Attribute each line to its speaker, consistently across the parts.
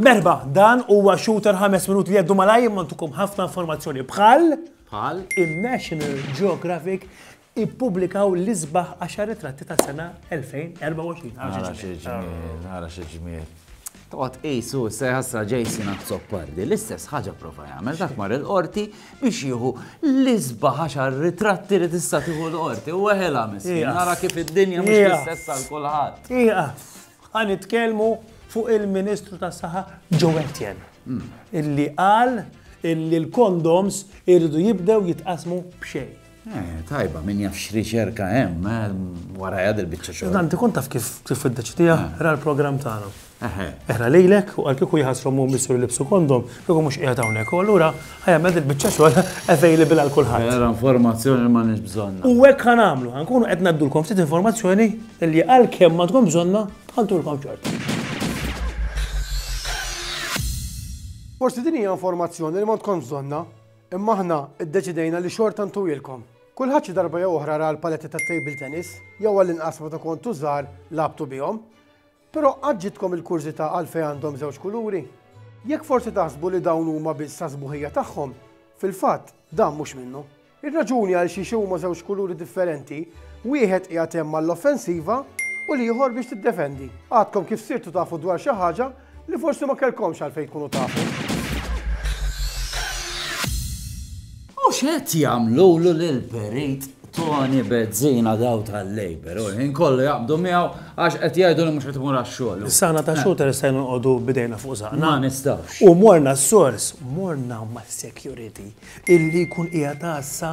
Speaker 1: Merba, dan huwa shooter ħames minut li għeddu malaj imma ntukum ħafna informazzjoni bħal bħal in-National Geographic ippubblikaw l-isbaħ għaxar ritratti tas-sena 2024. Ara Ara xi ġmiel, ara xi ġmiel. Toqgħod qisu se ħassra Jason Azzopardi l-istess ħaġa prova jagħmel dak mar il-qorti biex jieħu l-isba ħaxar ritratti li tista' tieħu l-qorti u weħela miskin Iqaf. nara kif id-dinja mhux Iqaf. l-istess għal kulħadd. Iqaf, għan nitkellmu fuq il-Ministru tas saħħa Joe Etienne, illi qal illi l-kondoms irridu jibdew jitqasmu b'xejn. Eh, tajba, min jaf x'riċerka hemm, eh, warajha dil-biċċa xogħol. Dan tkun taf kif kif iddeċidija eh. ra l-programm tagħna. Eħna lilek u għal kieku jħassru mu missu li libsu kondom, kieku mhux qiegħed hawnhekk. U allura ħajja il-biċċa xogħol available għal kulħadd. Era informazzjoni li ma nix bżonna. U hekk ħan għamlu, ħankunu qed ngħaddulkom ftit informazzjoni li għal kemm ma tkun bżonna ħantulkom ċert. Forsi din hija informazzjoni li ma tkun bżonna. Imma aħna ddeċidejna li xorta ntuwilkom. Kulħadd xi darba jew oħra ra l-paletti tat-table tennis, jew għall-inqas meta kontu żgħar lagħbtu bihom. Però qatt ġietkom il-kurżità għalfejn għandhom żewġ kuluri? Jekk forsi taħsbu li dawn huma biss għas-sbuħija tagħhom, fil-fatt dan mhux minnu. Ir-raġuni għalxiex huma żewġ kuluri differenti, wieħed qiegħed hemm għall-offensiva u l-ieħor biex tiddefendi. Għadkom kif sirtu tafu dwar xi ħaġa Li forsi ma kellkomx għalfejn tkunu tafu. U x'qed jagħmlulu lil Perit Tony Bezzina daw tal-Labor, u l-ħin kollu jaqbdu miegħu għax qed jgħidu li mhux qed imur għax-xogħol. Sana ta' xooter se nqogħdu bidejna fuq żaqna. Ma nistgħux. U morna s-sors, morna ma' security illi jkun qiegħed għassa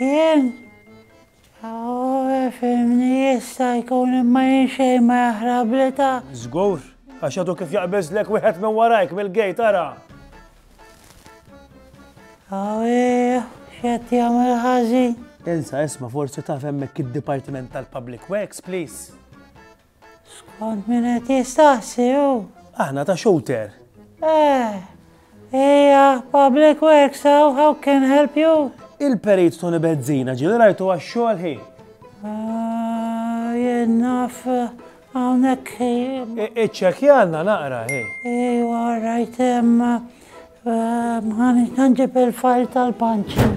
Speaker 1: Jien? Fimni jista' jkun imma jien xejn ma jaħrabli ta'. Żgur, għax għadu kif jaqbeżlek wieħed minn warajk mill-gejt ara. Awih, x'qed jagħmel ħażin. Insa, isma' forsi taf hemmhekk id-Dipartiment tal-Public Works, please? Skont min qed jistaqsi hu? Aħna ta' Shooter. Eh, hija Public Works hawn, how can help you? Il-Perit Tony Bezzina ġieli rajtu għax-xogħol hi. Ah, jien naf hawnhekk hi. Iċċekjanna naqra hi. Ejwa, rajt hemm. Ħanġib il-fajl tal-punching.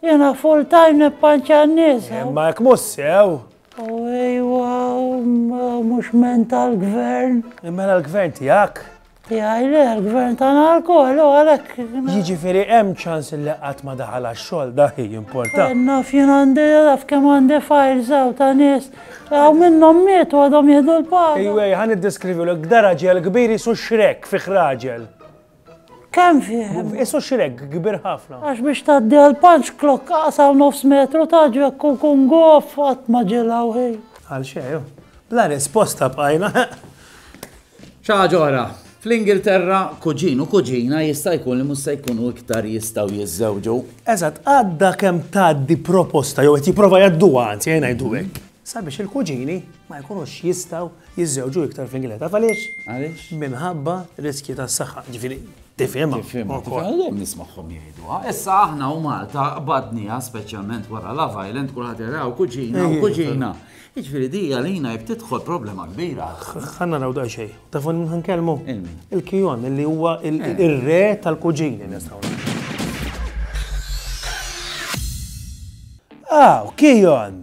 Speaker 1: Jena full time nippanċa n-nies. Eh, ma jek mhux sew. U ejwa, mhux mental gvern. Mela l-gvern tiegħek? Tiegħi le, l-gvern tagħna lkoll u għalhekk. Jiġifieri hemm ċans li qatt ma daħal għax-xogħol dak jimporta. Eh, naf jien għandi naf kemm għandi fajl sew ta' nies. Għaw minnhom miet u għadhom jieħdu l-paga. Ejwej, ħan iddeskrivi l-gdara ġel kbiri su xrek fi raġel. Kemm fih? Isu xireg kbir ħafna. Għax biex tgħaddi għal punch clock aqsaw nofs metru ta' ġekk u kun gof qatt ma ġilgħu ħin. Għal xejn. Bla risposta bqajna. Xi ħaġa oħra. Fl-Ingilterra, kuġin u kuġina jista' jkun li mhux se jkunu iktar jistgħu jiżżewġu. Eżatt, għadha kemm tgħaddi proposta jew qed jipprova jgħadduha anzi ejn ngħidu hekk. sabiex il-kuġini ma jkunux jistgħu jiżżewġu iktar fl-Ingilterra. Taf għaliex? Għaliex? Minħabba riskji tas-saħħa, ġifieri tifhimha. Tifhimha, tifhimha, nismagħhom jgħiduha. Issa aħna u Malta qbadniha speċjalment wara Love Island kulħadd jaraw kuġina u kuġina. Jiġifieri di għalina jib tidħol problema kbira. Ħanna raw daqsxejn. Tafu minn ħankellmu? Il-kijon, li huwa il-re tal-kuġini nistgħu. Aw, kijon!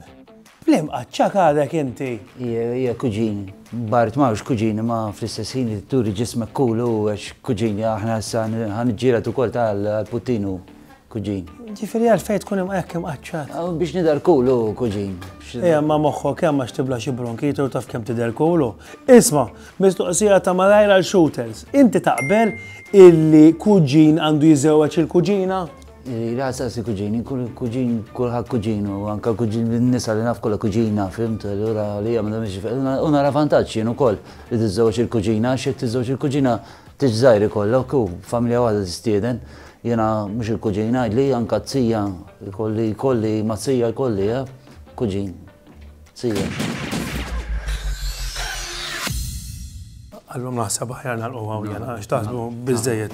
Speaker 1: Bl-imqaċċa għadek inti! Hija, hija kuġini. Bart ma hux kuġini ma fl-istess ħin li turi ġismek cool hu għax kuġini aħna issa ħa niġġieled ukoll ta għall-Puttin hu kuġin. Ġifieri għalfejn tkun hekk imqaċċat? Aw biex nidher cool hu kuġin. Ejja ma moħħok hemm għax tibla xi bronkite u taf kemm tidher cool hu. Isma', mistoqsija ta' malajr għal shooters. Inti taqbel illi kuġin għandu jiżewweġ il-kuġina? Rasa si kuġini, kull kuġin, kulħadd kuġinu, anka kuġin nisa li naf kollha kuġina, fimt, allura li hija m'għandhom biex u nara vantaġġ jien ukoll li tiżżewġ il-kuġina għax jekk tiżżewġ il-kuġina tiġ żgħir ikollok u familja waħda tistieden. Jiena mhux il-kuġina, li anka t-sija jkolli jkolli ma' sija jkolli, eh, kuġin. See ya. Allum naħseb aħjar nagħlqu hawn jena għax taħsbu biżejjed.